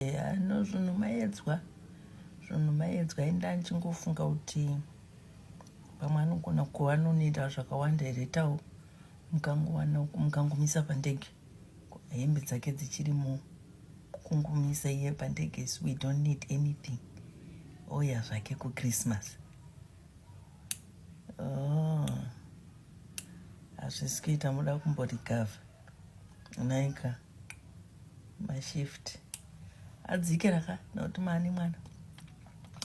Yeah, no zvinhu maedzwa zvinhu maedzwa enda ndichingofunga kuti pamwe anogona kuva anonoita zvakawanda here tawo mukangowana mukangomisa pandege hembe dzake dzichiri mu kungomisa iye pandege so we don't need anything oya zvake kuchristmas oh, hazvisi kuita muda kumborikavha naika mashift adzike raka nokuti mani mwana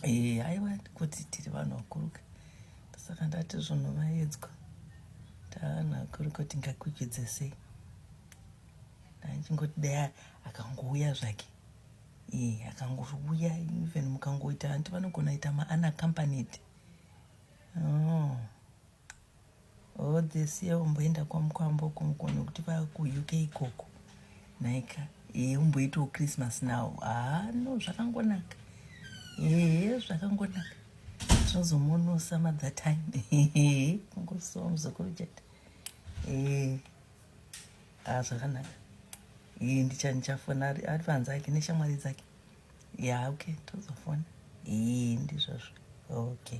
ee eh, aiwa kuti tiri vanhu vakuruka saka ndati zvinhu vaedzwa tavanhu vakuruka tingakwikwidze sei ndaichingoti dai akangouya zvake ee eh, akangouya even mukangoita anti vanogona ita maana accompanied oh. all this year umboenda kwamukwambo uko mukone kuti vakuuk ikoko naika ee umboitawo christmas now haa ah, no zvakangonaka ee zvakangonaka tinozomunosa mother time kungosowa muzukuru chete ee haa ah, zvakanaka ee ndicha ndichafona ari panze ake neshamwari dzake ya okay tozofona ee ndizvozvo okay